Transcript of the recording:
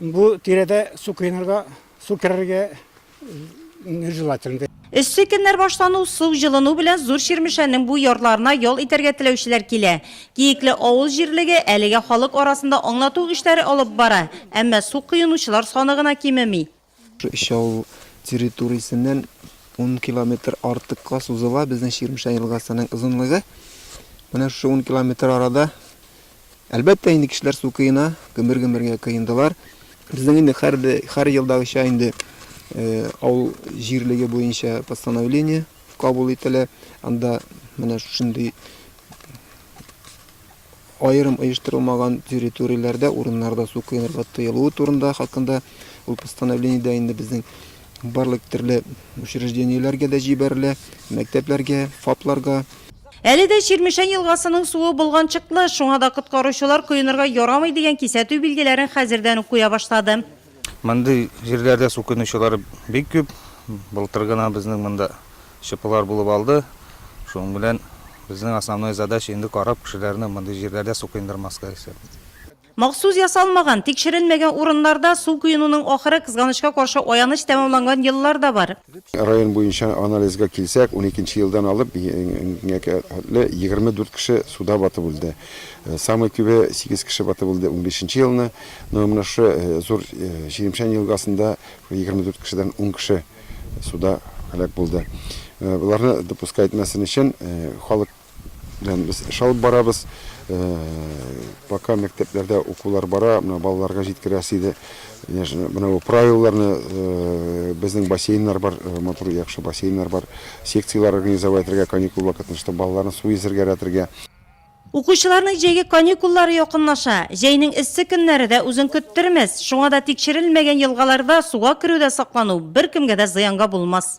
Бу тирәдә су коенырга, су керергә нежелательно. Эссе көннәр башлану, су җылыну белән Зур Чирмешәннең бу ярларына ял итәргә теләүчеләр килә. Киекле авыл җирлеге әлегә халык арасында аңлату эшләре алып бара, әмма су коенучылар саны гына кимеми. Өч авыл территориясеннән ун километр артыкка сузыла безнең Чирмешән елгасының озынлыгы. Менә шушы ун километр арада, әлбәттә, инде кешеләр су кыена, гөмер-гөмергә кыендылар. Безнең инде һәр, һәр елдагыча инде авыл җирлеге буенча постановление кабул ителә. Анда менә шушындый аерым оештырылмаган территорияләрдә, урыннарда су коенырга тыелуы турында хакында ул постановление дә инде безнең барлык төрле учреждениеләргә дә җибәрелә, мәктәпләргә, ФАПларга. Әле дә Чирмешән елгасының суы болганчыклы, шуңа да коткаручылар коенырга ярамый дигән кисәтү билгеләрен хәзердән үк куя башлады. Мондый җирләрдә су көнүчеләре бик күп. Былтыр гына безнең монда ЧПлар булып алды. Шуның белән безнең основной задача инде карап кешеләрне мондый җирләрдә су коендырмаска исәп. Махсус ясалмаган, тикшерелмәгән урыннарда су коенуның ахыры, кызганычка каршы, аяныч тәмамланган еллар да бар. Район буенча анализга килсәк, уникенче елдан алып бүгенгә хәтле егерме дүрт кеше суда батып үлде. Самый күбе, сигез кеше батып үлде унбишенче елны. Но менә шушы зур Чирмешән елгасында егерме дүрт кешедән ун кеше суда һәлак булды. Боларны допуска итмәсен өчен халык. Белән без эш алып барабыз. Пока мәктәпләрдә укулар бара, менә балаларга җиткерәсе иде. Менә бу правилаларны безнең бассейннар бар, матур яхшы бассейннар бар. Секцияләр организовать итәргә каникул вакытын, чтобы балаларны су йөзергә рәтергә. Укучыларның җәйге каникуллары якынлаша. Җәйнең эссе көннәре дә үзен көттермәс. Шуңа да тикшерелмәгән елгаларда суга керүдә саклану беркемгә дә зыянга булмас.